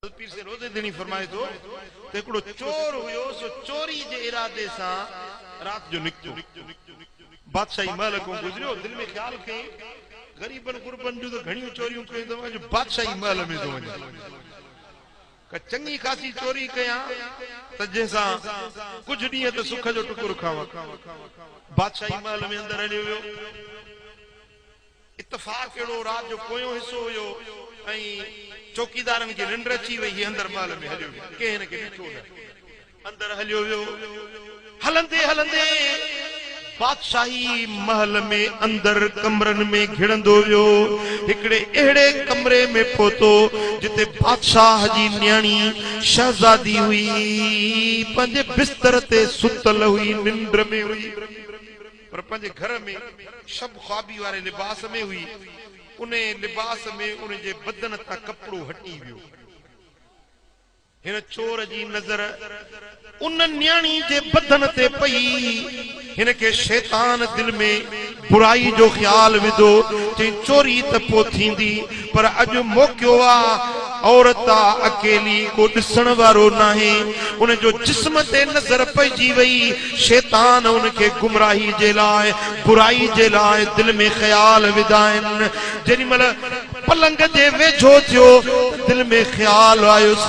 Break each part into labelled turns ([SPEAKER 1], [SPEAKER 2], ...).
[SPEAKER 1] حضرت پير سيد روضي ڌڻي فرمائي ٿو ته هڪڙو چور هيو سو چوري جي ارادي سان رات جو نڪتو بادشاهي محل کون گذريو دل ۾ خيال ڪيئي غريبن غربن جون ته گهڻيون چوريون ڪيون اٿم اڄ بادشاهي محل ۾ ٿو وڃان ڪا چڱي خاصي چوري ڪيان ته جنهن سان ڪجهه ڏينهن ته سک جو ٽڪر کاوان بادشاهي محل ۾ اندر هليو ويو. اتفاق اهڙو رات جو پويون حصو هيو ۽ چوڪيدارن کي ننڊ اچي وئي هي اندر محل ۾ هليو ويو ڪنهن هن کي ڏٺو نه اندر هليو ويو هلندي هلندي بادشاهي محل ۾ اندر ڪمرن ۾ گهڙندو ويو هڪڙي اهڙي ڪمري ۾ پهتو جتي بادشاهه جي نياڻي شهزادي هئي پنهنجي بستر تي ستل هئي ننڊ ۾ هئي. پر پنهنجي گهر ۾ شب خوابي واري لباس ۾ هئي، انهيء لباس ۾ ان جي بدن تان ڪپڙو هٽي ويو. هن چور جي نظر ان نياڻي جي بدن تي پئي، هن کي شيطان دل ۾ برائي جو خيال وڌو، چيائين چوري ته پوء ٿيندي، پر اڄ موقعو آ، عورت آ، اڪيلي، ڪو ڏسڻ وارو ناهي، ان جو جسم تي نظر پئجي وئي، شيطان ان کي گمراهي جي لاء، برائي جي لاء دل ۾ خيال وڌائين، جيڏي مهل پلنگ جي ويجهو ٿيو ته دل ۾ خيال آيس،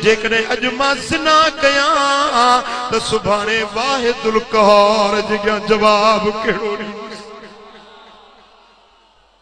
[SPEAKER 1] جيڪڏهن اڄ مان زنا ڪيان ها ته سڀاڻي واحدالقهار جي اڳيان جواب ڪهڙو ڏيندس.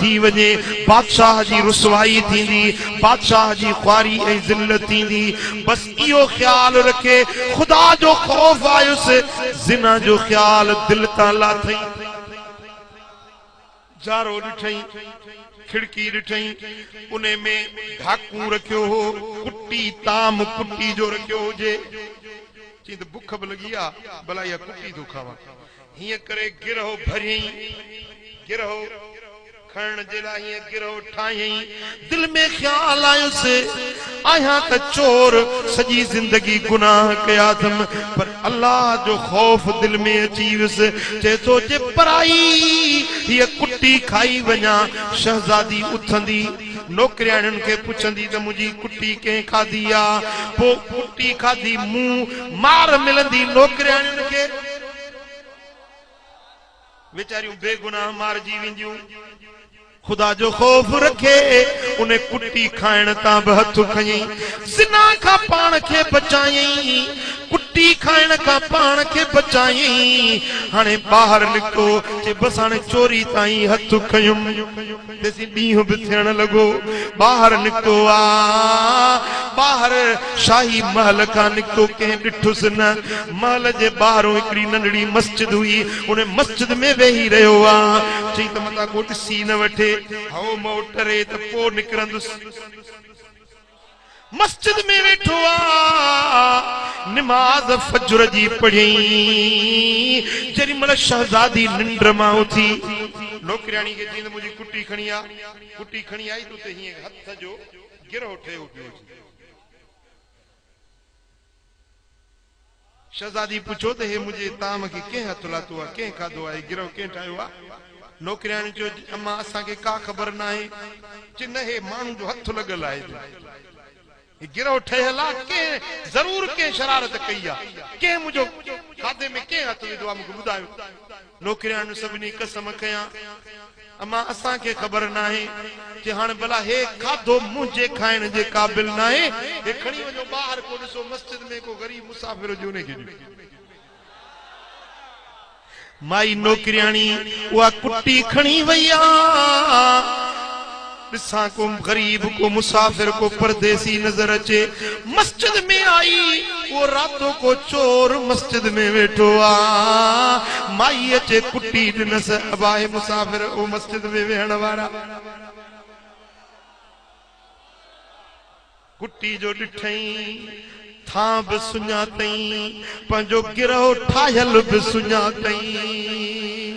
[SPEAKER 1] ٿي وڃي، بادشاهه جي رسوائي ٿيندي، بادشاهه جي خواري ۽ ذلت ٿيندي، بس اهو خيال رکي خدا جو خوف آيس، زنا جو خيال دل تان لاٿئين، جارو ڏٺئين، کڙڪي ڏٺئين، انهي ۾ ڍاڪون رکيو هو، ڪٽي طعام ڪٽي جو رکيو هجي، چئين ته بک به لڳي آ، ڀلا اها ڪٽي ٿو کاوان، هيئن ڪري گرهه ڀريئين، گرهه کڻڻ جي لاء هيئن گرهه ٺاهيئين. دل ۾ خيال آيس، آهيان ته چور، سڄي زندگي گناهه ڪيا اٿم، پر الله جو خوف دل ۾ اچي ويس، چئي ٿو جي پرائي هيء ڪٽي کائي وڃان. شهزادي اٿندي، نوڪرياڻين کي پڇندي ته منهنجي ڪٽي ڪنهن کاڌي آ؟ پوء ڪٽي کاڌي مون مار ملندي نوڪرياڻين کي. ويچاريون بي گناهه مارجي وينديون. خدا جو خوف رکي ان ڪٽي کائڻ تان به هٿ کنئي زنا کان پاڻ کي بچايائين. ڪٽي کائڻ کان پاڻ کي بچايائين. هاڻي ٻاهر نڪتو چي بس هاڻي چوري تان ئي هٿ کنيم. ڏسي ڏينهن به ٿيڻ لڳو. ٻاهر نڪتو آء ٻاهر شاهي محل کان نڪتو ڪنهن ڏٺس نه. محل جي ٻاهرون هڪڙي ننڍڙي مسجد هئي. ان مسجد ۾ ويهي رهيو آء. چيائين ته متان ڪو ڏسي نه وٺي. هو مئو ٽري ته پوء نڪرندس. مسجد ۾ ويٺو آ نماز فجر جي پڙهيائين جيڏي مهل شهزادي ننڊ مان اٿي نوڪرياڻي کي چيائين ته منهنجي ڪٽي کڻي آ ڪٽي کڻي آئي ته اتي هينئن هٿ جو گرهو ٺهيو پيو هجي. شھزادي پڇيو ته ھي منھنجي طعام کي ڪنھن ھٿ لاتو آ؟ ڪنھن کاڌو آ؟ ھي گرھه ڪنھن ٺاھيو آ؟ نوڪرياڻي چيو جي امان اسان کي ڪا خبر ناھي. چي نه ھي ماڻھن جو ھٿ لڳل آھي جي ھي گرھه ٺھيل آ ڪنھن ضرور ڪنھن شرارت ڪئي آ ڪنھن منھنجو کاڌي ۾ ڪنھن ھٿ وڌو آ مون کي ٻڌايو. نوڪرياڻين سڀني قسم ڪيا. امان اسان کي خبر ناهي ٿي هاڻ ڀلا هي کاڌو منهنجي کائڻ جي قابل ناهي هي کڻي وڃو ٻاهر ڪو ڏسو مسجد ۾ ڪو غريب مسافر هجي انهي کي ڏيو. مائي نوڪرياڻي اها ڪٽي کڻي وئي آ. ڏسان ڪو غريب ڪو مسافر ڪو پرديسي نظر اچي مسجد ۾ آئي اهو راتو ڪو چور مسجد ۾ ويٺو آ مائي اچي ڪٽي ڏنس ابا اهي مسافر اهو مسجد ۾ ويهڻ وارا ڪٽي جو ڏٺئين ٿان به سڃاتئين پنهنجو گرهه ٺاهيل به سڃاتئين.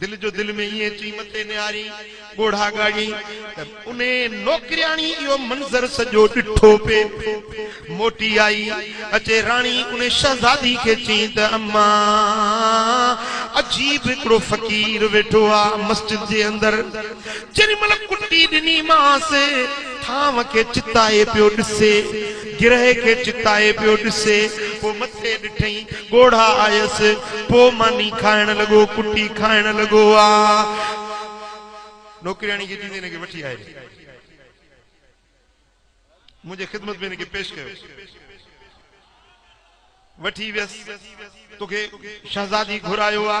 [SPEAKER 1] دل جو دل ۾ ائين چئي مٿي نهاري ڳوڙها ڳاڙهي ته انهيء نوڪرياڻي اهو منظر سڄو ڏٺو پئي. موٽي آئي، اچي راڻي انهيء شهزادي کي چيائين ته اما! عجيب هڪڙو فقير ويٺو آ مسجد جي اندر. جيڏي مهل ڪٽي ڏني مانس، ٿانو کي چتائي پيو ڏسي، گرهه کي چتائي پيو ڏسي، پوء مٿي ڏٺئين، ڳوڙها آيس، پوء ماني کائڻ لڳو، ڪٽي کائڻ لڳو آ. نوڪرياڻي کي چيندي هن کي وٺي آء ري منهنجي خدمت ۾ هن کي پيش ڪيو. وٺي ويس، توکي شهزادي گهرايو آ.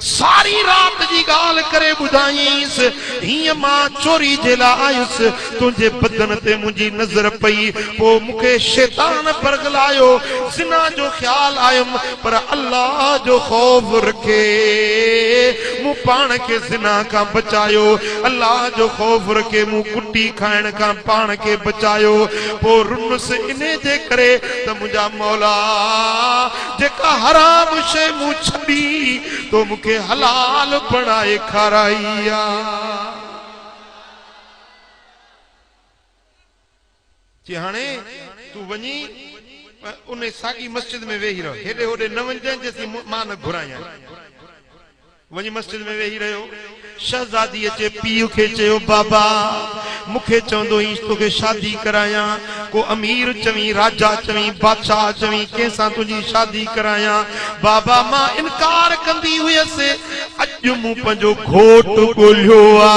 [SPEAKER 1] ساري رات جي ڳالهه ڪري ٻڌايائينس، هينئن مان چوري جي لاء آيس، تنهنجي بدن تي منهنجي نظر پئي، پوء مون کي شيطان برغلايو، زنا جو خيال آيم، پر الله جو خوف رکي مون پاڻ کي زنا کان بچايو، الله جو خوف رکي مون ڪٽي کائڻ کان پاڻ کي بچايو، پوء رنس انهي جي ڪري ته منهنجا مولا جيڪا حرام شيء مون ڇڏي، تو مون کي حلال بڻائي کارائي آ. چي هاڻي تون وڃي انهي ساڳي مسجد ۾ ويهي رهه، هيڏي هوڏي نه وڃجانء جيسين مان نه گهرانء. وڃي مسجد ۾ ويهي رهيو. شهزاديء جي پيء کي چيو، بابا! مون کي چوندو هئينس توکي شادي ڪرايان. ڪو امير چوين، راجا چوين، بادشاهه چوين، ڪنهن سان تنهنجي شادي ڪرايان. بابا! مان انڪار ڪندي هيس. اڄ مون پنهنجو گهوٽ ڳولهيو آ.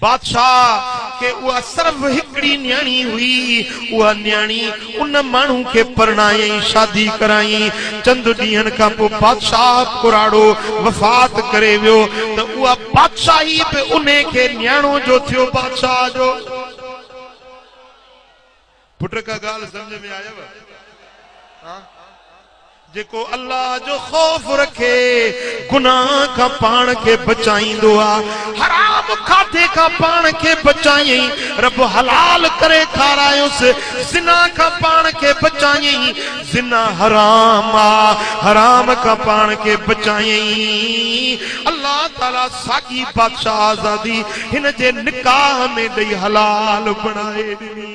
[SPEAKER 1] بادشاهه کي اها صرف هڪڙي نياڻي هئي. اها نياڻي ان ماڻهو کي پرڻايائين، شادي ڪرايائين. چند ڏينهن کان پوء بادشاهه پراڙو وفات ڪري ويو ته اها بادشاهي به انهي کي نياڻو جو ٿيو بادشاهه جو. پٽ ڪا ڳالهه سمجهه ۾ آيو ها جيڪو الله جو خوف رکي گناھ کان پاڻ کي بچائيندو آ حرام کاڌي کان پاڻ کي بچايئين رب حلال ڪري کارايوس زنا کان پاڻ کي بچايئين زنا حرام آ حرام کان پاڻ کي بچايئين الله تعالي ساڳي بادشاھ آزادي هن جي نڪاح ۾ ڏئي حلال بڻائي ڏني